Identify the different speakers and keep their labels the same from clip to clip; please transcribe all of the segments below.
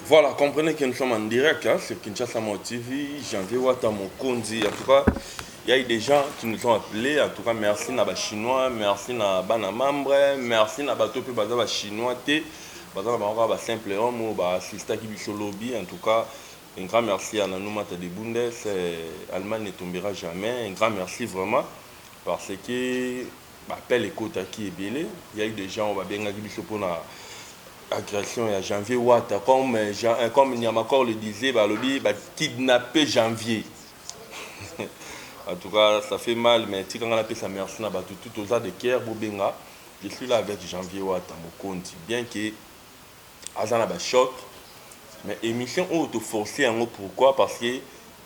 Speaker 1: Voilà, comprenez que nous sommes en direct hein, sur Kinshasa Mao TV, Janvier Wata Mokonzi. En tout cas, il y a eu des gens qui nous ont appelés. En tout cas, merci na ba Chinois, merci na bana membre, merci na bato pe baza ba Chinois te. Baza na bango ba simple homme ba assista ki biso lobby. En tout cas, un grand merci à Nanou Mata de Bundes. Euh, Allemagne ne tombera jamais. Un grand merci vraiment parce que Ba appels ekotaki ebele, il ya eu des gens oyo ba bengaki biso pona agression ya Janvier Wata comme comme Niamacor le disait balobi ba kidnappe Janvier en tout cas ça fait mal mais tika nga napesa merci na batu tout oza de cœur bobenga je suis là avec Janvier Wata mokonzi bien que Aza na ba choc mais emission oyo to force yango pourquoi parce que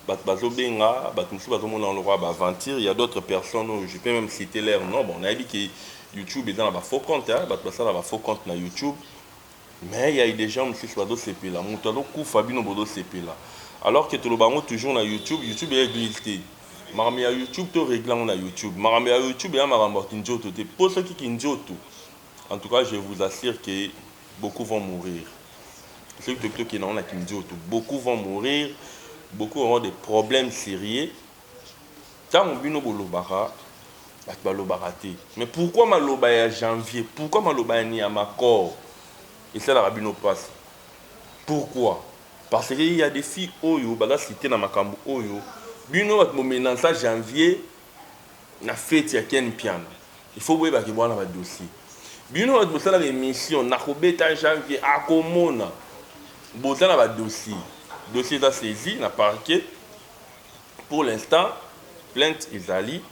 Speaker 1: batu bazo benga batu mususu bazo mona lokola ba aventure ya d'autres personnes oyo je peux meme citer leur nom bon nayebi que YouTube eza na ba faux compte hein batu basala ba faux compte na YouTube mais ya des gens mususu bazo sepela mutu azo kufa bino bozo sepela alors que toloba yango toujours na YouTube YouTube eza eglise te makambo ya YouTube to regle yango na YouTube makambo ya YouTube eza makambo ya kinzoto te po soki kinzoto En tout cas je vous assure que beaucoup vont mourir soki toki tokende yango na kinzoto beaucoup vont mourir beaucoup auront des problèmes serieux ntango bino bolobaka bato balobaka te mais pourquoi maloba ya janvier pourquoi maloba ya niamacor esalaka bino mpasi pourquoi parce que ya des filles oyo baza cite na makambo oyo bino bato bomelansa janvier na feti ya ken mpiana il faut boyeba ke bwana ba dossier bino batu bosalaka emission na kobeta janvier akomona boza na ba dossier dossier eza saisi na parquet pour l'instant plainte ezali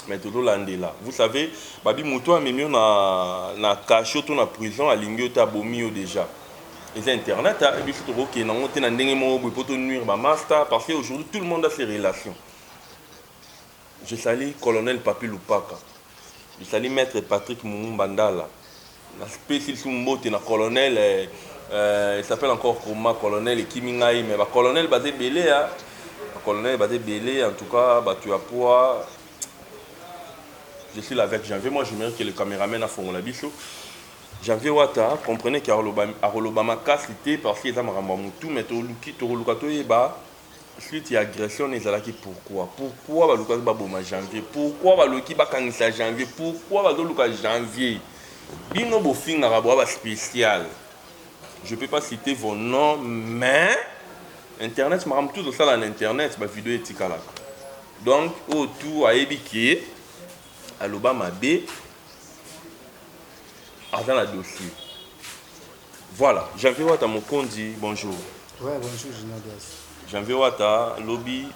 Speaker 1: mais tozolandela vous savez babi moto amemi yo na, na cachot to na prison alingi yo te abomi yo déjà eza internet hein, biso tokokende yango te na ndenge moko boye mpo tonuire bamasta parce que aujourd'hui tout le monde a ses relations Je sali colonel Papy Lupaka, je sali maitre Patrick Mumumba Ndala, na pesi lisusu mbote na colonel euh, il s'appelle encore comment colonel ekimi ngai mais ba colonel baza ebele ya ba colonel baza ebele en tout cas batu ya poa je suis là avec janvier moi j'aimerais que le cameraman afongola biso janvier wata comprenez que akoloba akoloba makasi te parce que eza makambo ya mutu mais toluki tokoluka toyeba Suite ya agression wana ezalaki pourquoi? Pourquoi balukaki baboma Janvier? Pourquoi baloki bakangisa Janvier? Pourquoi bazoluka Janvier? Bino bofingaka boa ba special. Je peux pas citer vos noms mais internet makambo tout osala na internet ba video etikalaka. Donc oyo tout ayebi ke aloba mabe aza na dossier. Voilà janvier wata mokonzi bonjour. Ouais bonjour
Speaker 2: Ginadias. Janvier wata
Speaker 1: lobi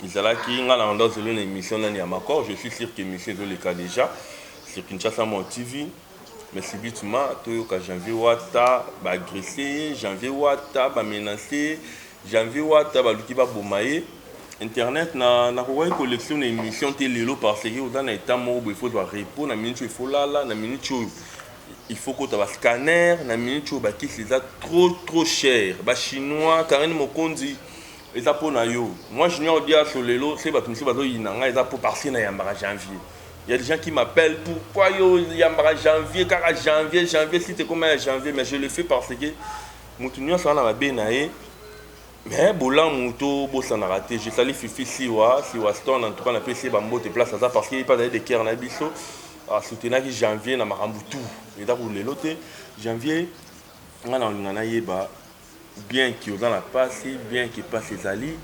Speaker 1: ezalaki nga na onda zelo na émission nani ya makor je suis sûr que émission ezoleka déjà sur Kinshasa mon TV mais subitement toyoka janvier wata baagresse ye janvier wata bamenace ye janvier wata baluki baboma ye internet na nakokaki collection na émission te lelo parce que oza na etat moko boye fozwa repos na minute oyo efolala na minute oyo Il faut kota ba scanner na minute oyo bakisi eza trop trop cher ba chinois Carine Mokonzi eza po na yo moi junior diaso lelo se bato mosusu bazoyina ngai eza po parce na yambaka janvier ya des gens qui m'appellent pourquoi yo yambaka janvier kaka janvier janvier site ekoma ya janvier mais je le fais parce que moto nyonso wana mabe na ye Mais bolamu to bosanaka te je salis fifi siwa siwa stone en tout cas na pesi ye ba mbote place aza parce que ye pe azali de cœur na biso a soutenaki janvier na makambo tout eza ku lelo te janvier nga na linga na yeba bien ki oza na pasi bien ki pasi ezali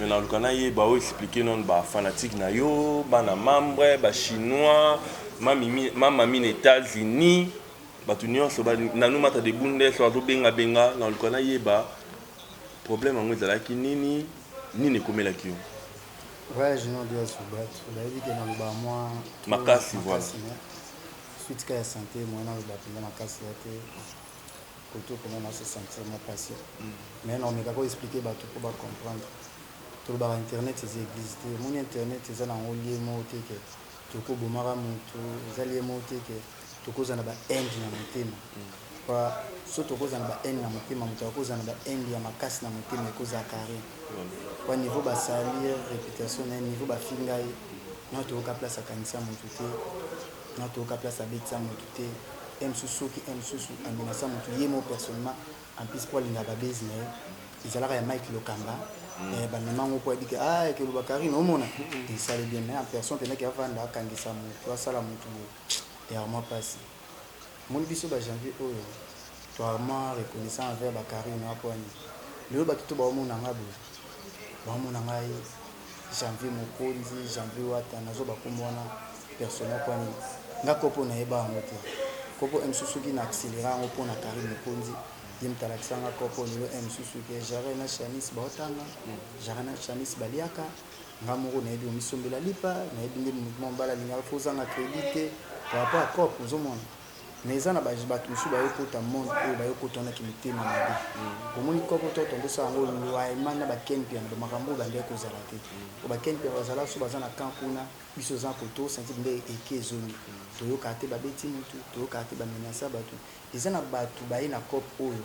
Speaker 1: mais na luka na yeba o expliquer non ba fanatique na yo bana membre ba chinois ma mimi ma mami na etats unis bato nionso ba nanu mata de bundes azo benga benga na luka na yeba Problème yango ezalaki nini? Nini ekomelaki yo? Voyage
Speaker 2: no dia subat bayebi ke naloba mwa makasi makasi
Speaker 1: mais suite
Speaker 2: ka ya sante moyen naloba mpenza makasi ya te koto mpenza na se sentir mwa mpasi mais naomeka ko expliquer bato mpo ba comprendre tolobaka internet eza eglise te omoni internet eza na yango lie moko te ke Toko bomaka mutu eza liye moko te que toko zala na ba haine na motema pa soki toko zala na ba haine na motema mutu ako zala na ba haine ya makasi na motema eko zala carre pa niveau ba salir reputation naye niveau ba finga ye nao toyoka place akangisa mutu te nao toyoka place abetisa mutu te heure mususu soki heure mususu a menasa mutu ye moko personnellement En plus po alinga ba buzz na ye ezalaka ya Mike Lokamba eh, ba mema ngo po ayebi ke ah ke loba Carine omona esali bien mais en personne pendaki avanda akangisa mutu asala mutu boye ya vraiment pasi moni biso ba janvier oyo to vraiment reconnaissant envers ba Carine wa po ani lelo batu to baomona nga boye baomona ngai Janvier Mokonzi, Janvier Wata, nazo ba kombo wana personnel pona nini? Nga kopo na yeba yango te. Kopo MSU soki na accelera yango pona Carine Mokonzi, ye mutu alakisa nga kopo lelo MSU soki ya Jaret na Shanice bao tanga, Jaret na Shanice ba liaka, nga moko na yebi omi sombela lipa, na yebi nde mouvement bala lingaka fo zanga credit te par rapport ya coop, ozo mona? Mais eza na ba batu mususu bayo kota monde oyo bayo kota wana kimitema mabe omoni koko to tonton sala ngo loyalement na ba ken mpiana ba makambo oyo bandaki kozala te po ba ken mpiana bazala so baza na camp kuna biso toza na koto sentir nde eki ezongi toyoka te babeti mutu toyoka te ba menacer batu eza na batu baye na cop oyo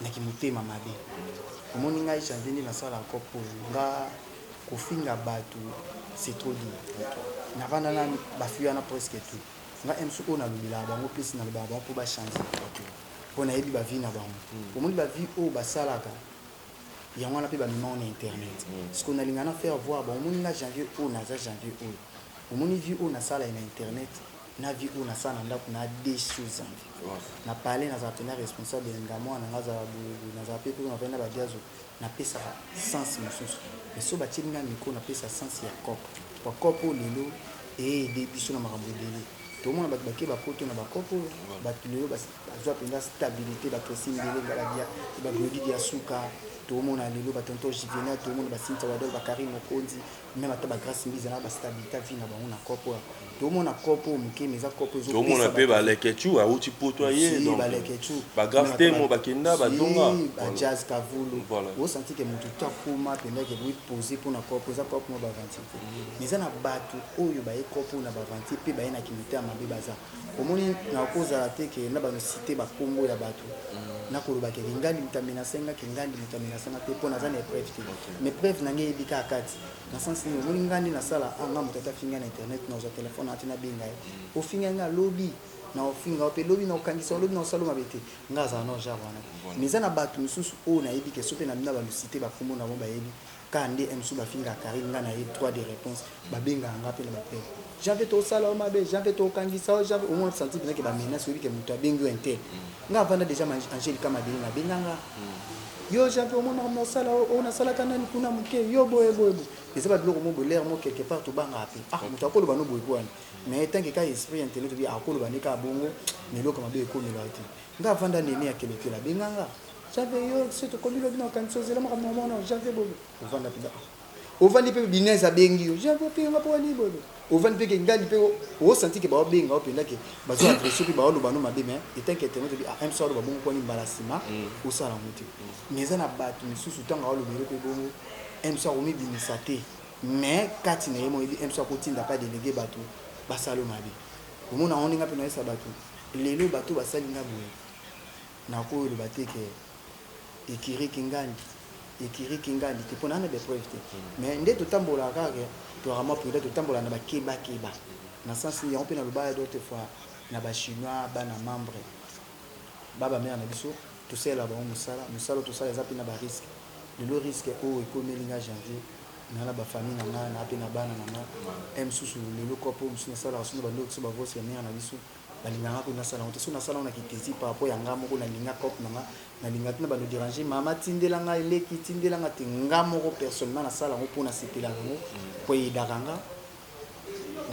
Speaker 2: na kimotema mabe omoni ngai janvier nde nasala cop oyo nga kofinga batu c'est trop dur navanda na bafi wana presque tout nga MC oyo na lobelaka bango pesi na lobaka bango po ba change po na yebi ba vie na bango mm. omoni ba vie oyo ba salaka yango wana pe ba mema na internet mm. ce qu'on a linga na faire voir ba omoni nga janvier oyo na za janvier oyo omoni vie oyo na sala na internet na vie oyo na sala na ndaku na deux choses en vie na parler na za pena responsable ya nga mwana nga za na za pe ko na pena ba diazo na pesa sens mususu mais soki batieli nga micro na pesa sens ya coop pua coop oyo lelo e aide biso na makambo ebele tomona batu bakeba poto na ba coop oyo batu lelo bazua penza stabilite ba Christine Ndelenga ba dia ba Glody Diasuka tomona lelo ba tonton Juvenal tomona ba Cynthia Wadol ba Carine Mokonzi Meme ata ba Grace Mbiza na ba Stabilita vie na bango na coop oyo tomona coop oyo moke mais eza coop oyo ezopesa tomona pe ba leketchou
Speaker 1: awuti poto aye si donc ba leketchou ba
Speaker 2: grave temo ba
Speaker 1: kenda ba zonga si ba jazz kavulu
Speaker 2: voilà o senti que mutu ta koma penda que oui poser pona coop eza coop mo ba aventure mais eza na batu oyo ba ye coop na ba aventure pe ba ye na kimotema mabe baza Omoni nakozala te ke na bano cite ba kombo ya batu na koloba ke ngangi moto amenace nga ke ngangi moto amenace nga te po naza na epreuve te mais preuve na nga eyebi kaka kati na sens nini omoni nga nde nasala ah nga moto ata afingi nga na internet nazua telephone na te nabenga ye ofinga nga lobi na ofinga yo pe lobi na okangisa yo lobi na osala yo mabe te nga azala na genre wana te mais eza na batu misusu oyo nayebi ke soki pe na bino na bano cite ba kombo na bango bayebi Ka nde emsu ba fingaka carine nga na ye droit de reponse ba bengaka nga pe na ba pele janvier to sala yo mabe janvier to kangisa yo janvier omona sentir peza ke ba menace oyebi ke mutu abengi yo un tel nga avanda dejà ma angel ka mabele na benga nga yo janvier omona makambo na sala yo ona sala ka nani kuna muke yo boye boye boye eza ba biloko mo bolaire mo quelque part to banga pe ah mutu akoloba no boye boye mais tant que ka esprit intellectuel bi akoloba ne ka bongo mais eloko mabe ekomela yo te Nga vanda nene akende te la benga nga J'avais yo se tokomi lobi na okanisi ozela makambo na mwana J'avais boye ovanda pida ovandi pe binez abengi yo J'avais pe nga po wani boye ovandi pe ke ngali pe o senti ke bao benga o penda ke bazo adresse pe bao loba no mabe mais etant ke internet obi ah MSA aloba bongo kwani mbala sima osala ngo te mais eza na batu misusu tango ao lobele pe bongo MSA akomi bimisa te mais kati na ye mo yebi MSA akotinda pa delegue batu basalo mabe omona ngo ndenge ape na yesa batu Lelo bato basali nga boye nakoyo loba te ke ecurie kingandi ecurie kingandi te pona na ba preuve te mais nde totambola kaka ke tozalaka mwa prudent totambola na ba keba keba na sens nini yango pe na loba d'autre fois na ba chinois bana membre ba ba mère na biso tosalela bango musala musala oyo tosala eza pe na ba risque lelo risque oyo ekomeli nga janvier na na ba famille na nga na pe na bana na nga un mosusu lelo coop oyo mosusu nasalaka soki na bandi kokisa ba voice ya mère na biso Nalingaka ko nasala yango te soki nasala yango na kitezi par rapport ya nga moko na linga cop na nga na linga tuna bando deranger mama tindela nga eleki tindela nga te nga moko personnellement nasala yango mpo nasepela yango mpo eyedaka nga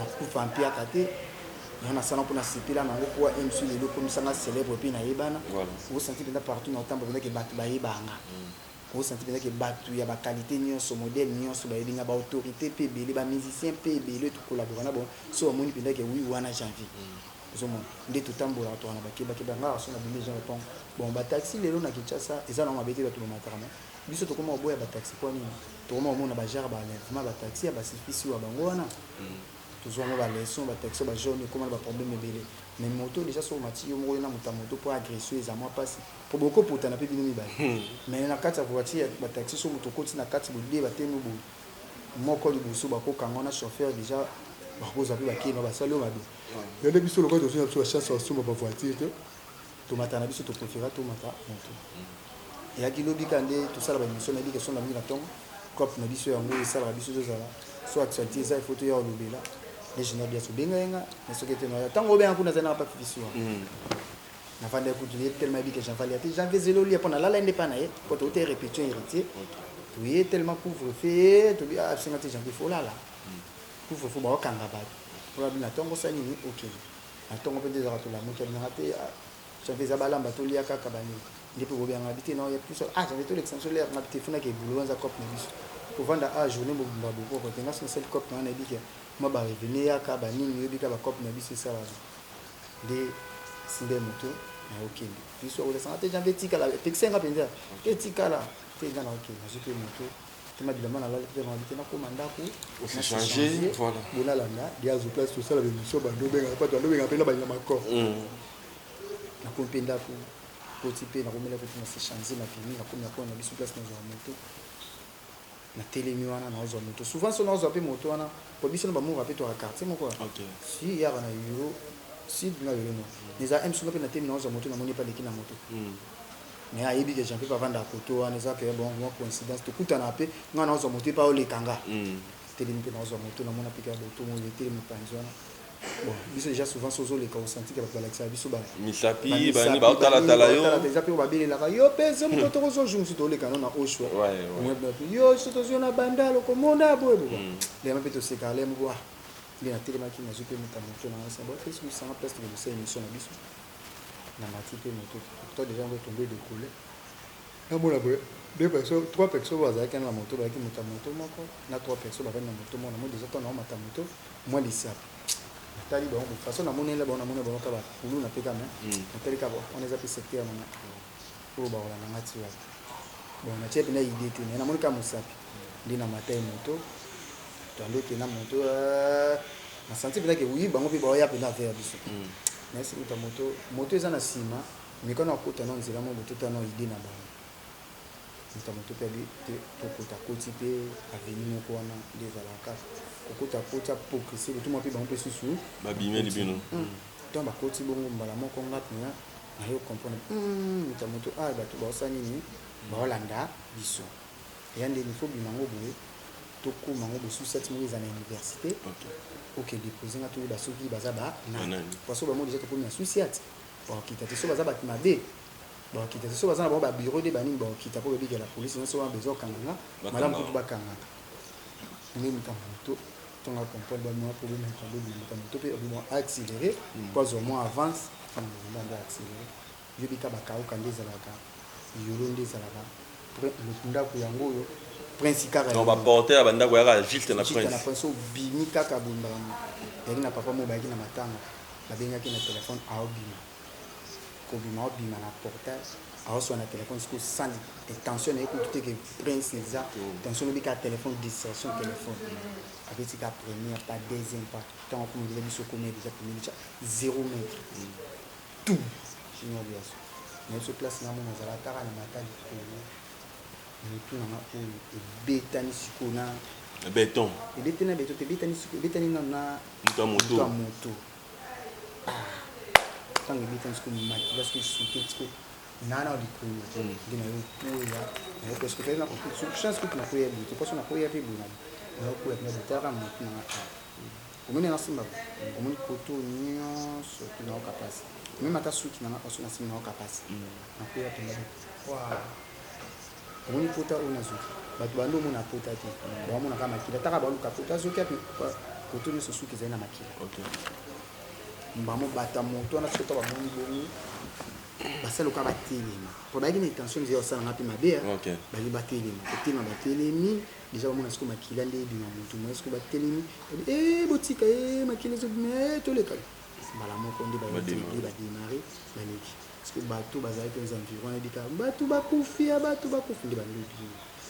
Speaker 2: na kufa mpiaka te yango nasala mpo nasepela na yango mpo emsu lelo ekomisa nga célèbre mpe nayebana osanti mpenza partout na otambo mpenza ke bato bayebanga mm. O sentir penza ke batu ya ba qualite nionso, modele nionso bayebi nga, ba autorites pe ebele, ba musiciens pe ebele oyo to collabora na bango, soki bamoni penza ke oui wana j'ai envie, ozo mona, nde to tambolaka tozalaka na ba keba keba, nga kaka soki na bimi jean le pong, bon ba taxi lelo na Kinshasa eza nango mabe te batu ba mataka mais biso tokoma koboya ba taxi po ya nini? tokoma komona ba genre ba enlèvement ya ba taxi ya ba sifi siwa bango wana tozua mwa ba leçon, ba taxi ya ba jaunes ekoma na ba problème ebele mais moto dejà soki omati yo moko yo na moto ya moto po a agresser yo eza mwa pasi. Po boko potana pe bino mibale. Mais na kati ya voiture ya ba taxi soki mutu okoti na kati bo deux ba tenu boye moko liboso bako kanga yo na chauffeur dejà bako zwa pe ba keba ba sali yo mabe. Mais nde biso lokola tozui na biso ba chance ya ko somba ba voiture te to mata na biso to prefera to mata moto. Eyaki lobi kaka nde to sala ba emission nayebi ke songa mingi na tongo coop na biso yango oyo esalaka biso to zala soit actualite eza il faut toya ko lobela nde general diasu obenga ye nga mais soki te na ya tango obenga kuna azali nanga pa fifi sua. navanda kutu ye tellement ayebi que j'avale ya te j'avais zelo lia mpo nalala ye nde epai na ye mpo touta répétition héritier toye tellement couvre feu tobi asenga te janvier folala couvre feu baokanga bato mpo babi na ntongo sa nini okende na ntongo mpe nde ezalaka tolamuki abinaka te janvier eza balamba tolia kaka banini nde mpe bobianga bite na oya biso ah janvier tolekisa biso lere nga bite funaka ebulu wanza cope na biso kovanda a journée mobimba boboko te nga so nasali cope na wana ebike mwa barevene yaka banini oyebika bacope na biso esalaka nde simba ye moke naye okende biso ya kolesanga te janvier etikala epekisa nga mpenza etikala te nga na okende nazwi mpe moke tema bilamba nalali mpe mabi te nakoma ndako bolalanda liazo place tosala bemission bando obengaka pato bando obengaka mpe na balinga makor mm. nakomi mpe ndako koti mpe nakomela kotina se change mapimi nakomi nakona na biso place nazwaka moto Na telemi wana nao zwa moto souvent soki nao zwa pe moto wana po biso na ba mura pe toaka quartier moko ya si yaka na euro sud nga lelo no na eza ems nga pe na telemi nao zwa moto na moni ye pe aleki na moto mais ayebi ke jean pe avandaka koto wana eza ke bon mwa coincidence to kutanaka pe nga nao zwa moto ye pe ao leka nga telemi pe nao zwa moto na mona pe ke ya botongo ye telemi panzi wana Bon biso dejà souvent sozo leka au senti que batu balakisaka biso ba misapi ba nini
Speaker 1: ba tala tala yo tala dejà pe ba belelaka
Speaker 2: yo pe zo moko toko zo jour musu toleka no na oshwa ouais ouais yo so tozo na bandal okomona boye boye lema pe toseka ale moko ah nde na telemaki na zo pe muta moto na ngai sabo pesi musanga place de musela emission na biso na mati pe moto pourtant dejà ngo tombé de couleur Na mona boye deux personnes trois personnes oyo bazalaki wana na moto bayaki moto ya moto moko na trois personnes bavandi na moto moko na moni dejà tango na omata moto mwa lisapi na tali bango boye façon na monela bango na mona bango kaka ba kuluna pe kaka mais mm. na tali kaka wana eza pe secteur na nga oyo bakolanda nga ti wapi bon na tia pe na idée te mais na moni kaka mosapi nde na mata ye moto tando ke na moto euh, na santi mpenza ke oui bango mpe baoya mpenza vers biso mm. mais moto moto eza na nsima Meka na kota na nzela mwa moto ta na idee na bango. Mbuta moto pe abi te to kota koti pe avenue moko wana nde ezalaka ko kota koti a progresser le tout mwa pe bango pe susu ba bimeli bino
Speaker 1: hum temps ba koti
Speaker 2: bongo mbala moko nga pena na yo comprendre hum mbuta moto ah batu ba osa nini ba olanda biso eya nde ni faut bima ngo boye to koma ngo bosu sati moko ezana universite okay. oke depose nga to yeba soki baza ba nani parce que ba mo deja to komi na susiate Bakokita te soki baza batu mabe bakokita te soki baza na bango ba bureau de ba nini bakokita po babikela police nga soki wana besoin okanga nga malamu kutu bakanga nga nde mutu ya moto to nga comprendre ba mua problème ya kadogo na mutu ya moto pe obima accelerer po azua mua avance na nzela nde accelerer yo bika bakauka nde ezalaka Yolo nde ezalaka ndaku yango oyo prince kaka non ba porte ya bandako
Speaker 1: yaka juste na prince na prince obimi
Speaker 2: kaka bondaka yangi na papa mo bayaki na matanga babengaki na telefone aobima kobima aobima na portail aoswa na telefone siko sani tension na ye kutu te ke prince eza mm. tension lobi kaka telefone distraction telefone abeti ka première pas deuxième pas ntango akomodela biso komia deja komelica zéro mètre mm. tout. Chinois liasso na biso place na mona azala kaka na matali Congo mutu na nga oyo ebetani siko na beton
Speaker 1: ebetani na beton te
Speaker 2: ebetani siko ebetani na na mutu moto moto ah tango ebetani siko maki parce que souke siko nana likolo nde na yo koya na yo parce que tali na chance kutu na koya boye te parce que na koya pe boye na yo koya pe na botalaka mutu na nga Omoni na simba ba omoni koto nionso to nayoka pasi meme ata suki na nga paso na simba nayoka pasi na kueya tonga ba waah omoni pota oyo nazwi bato bande omona pota te baomona kaka makila taka baluka pota azwi kaka koto nionso suki ezali na makila mbamo bata moto wana soki bamoni bongo basali oka batelema po bayaki na intention nzela osala nga mpe mabe bali batelema kotema batelemi Dejà ba mona siko makila nde ebima mutu moyen siko ba telemi babi eh botika eh makila ezo bima eh toleka mbala moko nde ba nde ba demarrer ba leki siko batu bazalaki aux environs ayebi ka batu bakufi ya batu bakufi nde ba lobi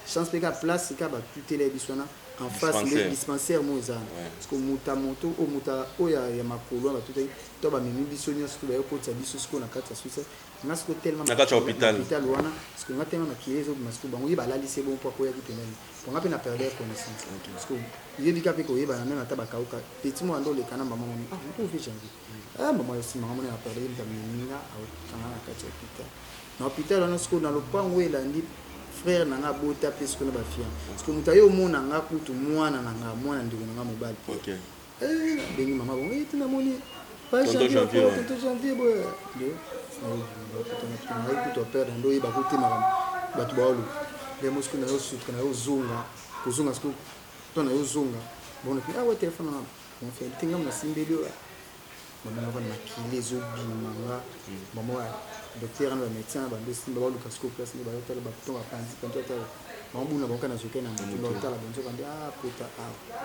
Speaker 2: chance pe ka place ka ba tutela ye biso wana en face nde dispensaire mo eza siko muta moto o muta oya ya makolo ba tutaki to ba memi biso nionso to ba yokotisa biso siko na kati ya suicide nga siko telema na kati ya hôpital hôpital
Speaker 1: wana siko nga
Speaker 2: telema makiye ezo bima siko bango ye balali se bon po akoya ki pembeni po nga pe na perdre connaissance siko yebi ka pe ko yeba na meme ata ba kauka petit mo ando le kana maman moni ah mpo vie jangi ah maman yo sima ngamona na perdre yebi ka mininga au kanga na kati ya hôpital na hôpital wana siko na lopango elandi frère na nga abota pe siko na ba fian siko moto aye omona nga kutu mwana na nga mwana ndeko na nga mobali okay.
Speaker 1: Eh, bengi
Speaker 2: mama bongo ete namoni pa Tonton janvier Janvier, okola ouais. tonto janvier boye nde nayebi kutu aperdre nde oyeba ko te makambo bato baolo nde mosiko na yo suka na yo ozonga kozonga siko to na yo ozonga bona pe awa telefone wana mafeli te ngambo nasimbeli oyo bamona wana makili ezobima nga mama wa docteur na bamédecin na bando esimba baluka siko place nde bayotala bakuto bapanzi panzi otala mamabuna bango kana zoke na moto baotala banzoka nde ah pota awa